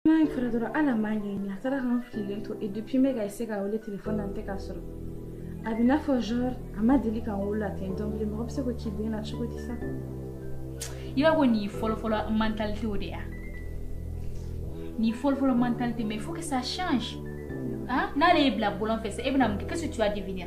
N'a ye kɛra dɔrɔn ale m'an ɲɛɲini a taara k'an fililen to et depuis n bɛ ka essayer k'a wele telefɔni na n tɛ k'a sɔrɔ a b'i n'a fɔ genre a ma deli k'an wolo la ten donc bilen mɔgɔ bɛ se k'o k'i den na cogo di sa i b'a ko nin fɔlɔfɔlɔ mentalité o de ya nin fɔlɔfɔlɔ mentalité mais il faut que ça change hein n'ale y'i bila bɔlɔn fɛ sisan e bɛna mun kɛ qu'est-ce que tu vas devenir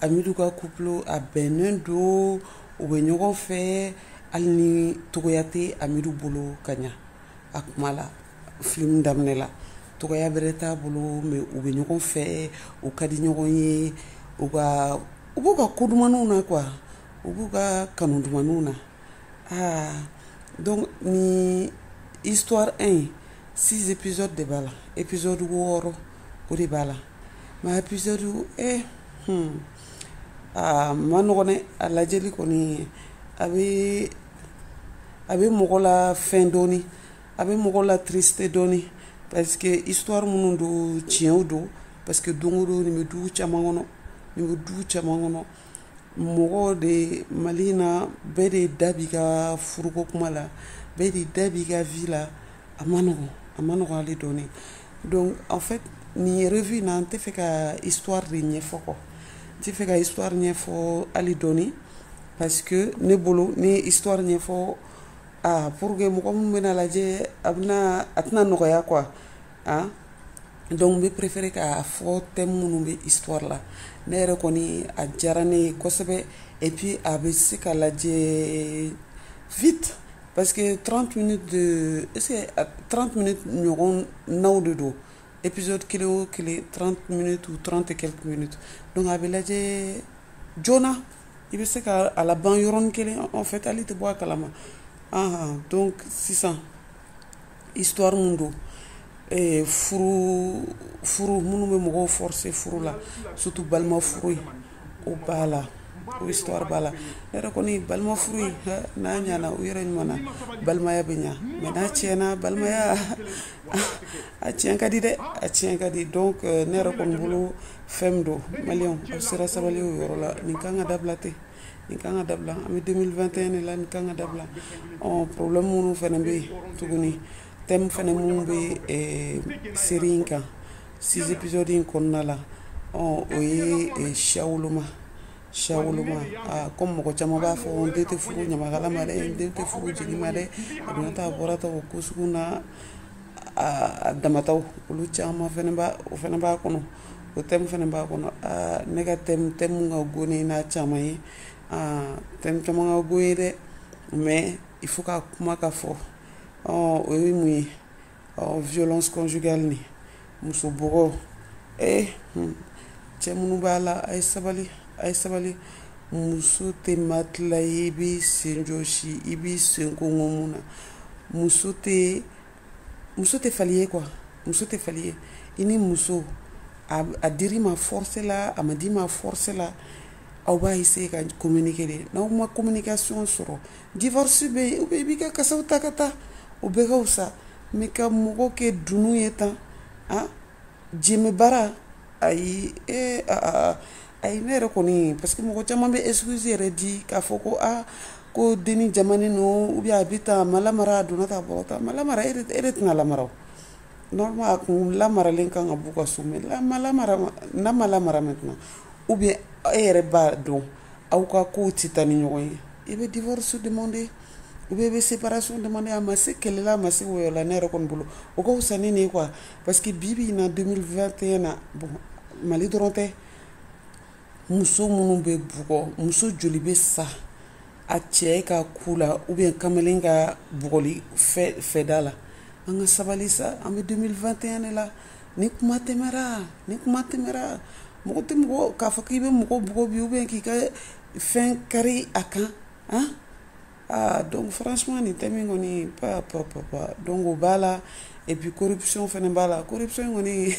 Amidu ka couple a bɛnnen don u bɛ ɲɔgɔn fɛ hali ni togoya tɛ Amidu bolo ka ɲa a kuma la film daminɛ la togoya bɛrɛ t'a bolo mais u bɛ ɲɔgɔn fɛ u ka di ɲɔgɔn ye u ka u b'u ka ko dumaninw na quoi u b'u ka kanu dumaninw na aa donc nin histoire 1 in 6 épisodes de b'a la épisode 6 o de b'a la Maa épisode e a man nɔgɔn a lajɛli kɔni a bɛ a bɛ mɔgɔ la fɛn dɔɔnin a bɛ mɔgɔ la triste dɔɔnin parce que histoire minnu don tiɲɛw don parce que don o don nin bɛ du caman kɔnɔ nin bɛ du caman kɔnɔ mɔgɔw de ye mali in na bɛɛ de da b'i ka furuko kuma la bɛɛ de da b'i ka vie la a man nɔgɔn a man nɔgɔn hali dɔɔni donc en fait nin revue in na n tɛ fɛ ka histoire de ɲɛfɔ kɔ n tɛ fɛ ka histoire ɲɛfɔ hali dɔɔni parce que ne bolo ne ye histoire ɲɛfɔ ah pour que mɔgɔ minnu bɛna lajɛ a bɛna a tɛna nɔgɔya quoi ah donc n bɛ préféré k'a fɔ thème minnu bɛ histoire la ne yɛrɛ kɔni a diyara ne ye kosɛbɛ et puis a bɛ se ka lajɛ vite parce que 30 minutes de 30 minutes ɲɔgɔnnaw de don épisode kelen o kelen 30 minutes ou 30 et quelques minutes donc a bɛ lajɛ joona i bɛ se ka a laban yɔrɔnin kelen en fait hali i tɛ bɔ a kalama ah donc sisan. histoire mun don eh, furu furu minnu bɛ mɔgɔw forcer furu la surtout balima furu ye o b'a la o histoire b'a la ne yɛrɛ kɔni balima furu ye n'a ɲana u yɛrɛ ɲuman na balimaya bɛ ɲa mais n'a tiɲɛna balimaya a tiɲɛ ka di dɛ a tiɲɛ ka di donc eh, ne yɛrɛ kɔni bolo fɛn min don maliyɛnw aw sera sabali o yɔrɔ la nin kan ka dabila ten nin kan ka dabila an bɛ 2021 de la nin kan ka dabila ɔ problème minnu fana bɛ yen tuguni thème fana minnu bɛ eh, série in kan six épisode in kɔnɔna la ɔ o ye eh, siya woloma siya woloma ah, comme mɔgɔ caman b'a fɔ n den tɛ furu ɲamakala ma dɛ n den tɛ furu jeli ma dɛ a donna tan a bɔra tan o ko sugu na a a damataw olu caman fana b'a o fana b'a kɔnɔ o thème fana b'a kɔnɔ ne ka thème min ka go ne n'a caman ye thème caman ka go n ye dɛ mais il faut ka kuma k'a fɔ o ye mun ye violence conjugale nin muso bugɔ cɛ minnu b'a la a ye sabali a ye sabali muso tɛ matelas i b'i sen jɔɔsi i b'i sen gongon min na muso tɛ muso tɛ fali ye quoi muso tɛ fali ye i ni muso a dir'i ma force la a ma d'i ma force la aw b'a essayer ka communiquer dɛ n'aw ma communication sɔrɔ divorce bɛ yen i b'i ka kasaw ta ka taa o bɛɛ ka wusa ni ka mɔgɔ kɛ dunun ye tan a jembe bara ayi ee aa ayi ne yɛrɛ kɔni parce que mɔgɔ caman bɛ excuse yɛrɛ di k'a fɔ ko aa ko denni jamanen don ou bien a bɛ tan a ma lamara a donna tan bɔra tan a ma lamara e de e de tɛna lamara o normalement a kun lamaralen ka kan ka b'u ka so mais n'a ma lamara n'a ma lamara maintenant ou bien e yɛrɛ b'a dɔn aw ka kow tɛ taa ni ɲɔgɔn ye i bɛ divorce demander ou bien i bɛ séparation demander a ma se kɛlɛ la a ma se wɔyɔ la ne yɛrɛ kɔni bolo o ka fisa ni nin ye quoi Parce que bi bi in na 2021 na bon Mali dɔrɔn tɛ muso minnu bɛ bugɔ muso joli bɛ sa a cɛ ka coups la ou bien kamalen ka bugɔli fɛ fɛda la an ka sabali sa an bɛ 2021 de la nin kuma tɛmɛra nin kuma tɛmɛra mɔgɔ tɛ mɔgɔ k'a fɔ k'i bɛ mɔgɔ bugɔ bi ou bien k'i ka fɛn kari a kan han aa donc franchement nin thème in kɔni pa pa pa pa donc o b'a la et puis corruption fana b'a la corruption kɔni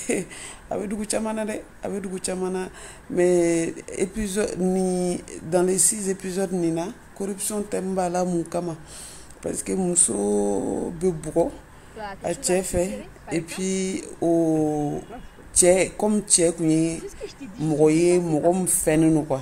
a bɛ dugu caman na dɛ a bɛ dugu caman na mais épisode nin dans les six épisodes nin na corruption thème b'a la mun kama parce que muso bɛ bugɔ a cɛ fɛ et puis o cɛ comme cɛ tun ye mɔgɔ ye mɔgɔ min fɛnnen don quoi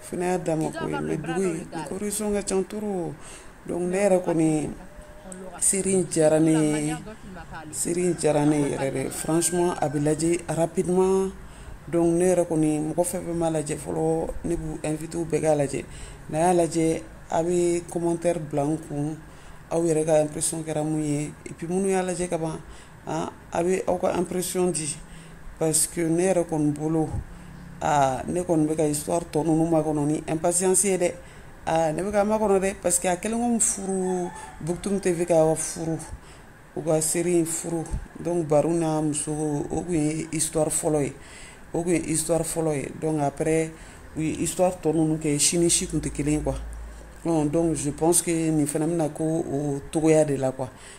F y'a dama ko ye dugu in corruption ka ca trop donc ne yɛrɛ kɔni série diyara ne série diyara ne yɛrɛ dɛ franchement a bɛ lajɛ rapidement donc ne yɛrɛ kɔni mɔgɔ fɛn fɛn m'a lajɛ fɔlɔ ne b'u inviter u bɛɛ k'a lajɛ n'a y'a lajɛ a bɛ commentaire bila n kun aw yɛrɛ ka impression kɛra mun ye et puis minnu y'a lajɛ ka ban aa a bɛ aw ka impression di parce que ne yɛrɛ kɔni bolo aa ne kɔni bɛka histoire tɔ ninnu makɔnɔ ni impatience ye dɛ aa ne bɛk'a makɔnɔ dɛ parce que a kɛlen furu Buktum TV ka furu u ka série in furu donc Baro n'a muso o tun ye histoire fɔlɔ ye o tun ye histoire fɔlɔ ye donc après u ye histoire tɔ ninnu kɛ si ni si tun tɛ kelen quoi donc je pense nin fana bɛna kɛ o cogoya de la quoi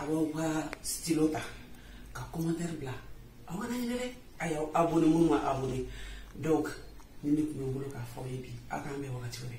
a b'aw ka stylo ta ka commentaire bila aw kana ɲinɛ dɛ a y'aw abonné minnu ma abonné donc nin de tun bɛ n bolo k'a fɔ aw ye bi aw k'an bɛn wagati wɛrɛ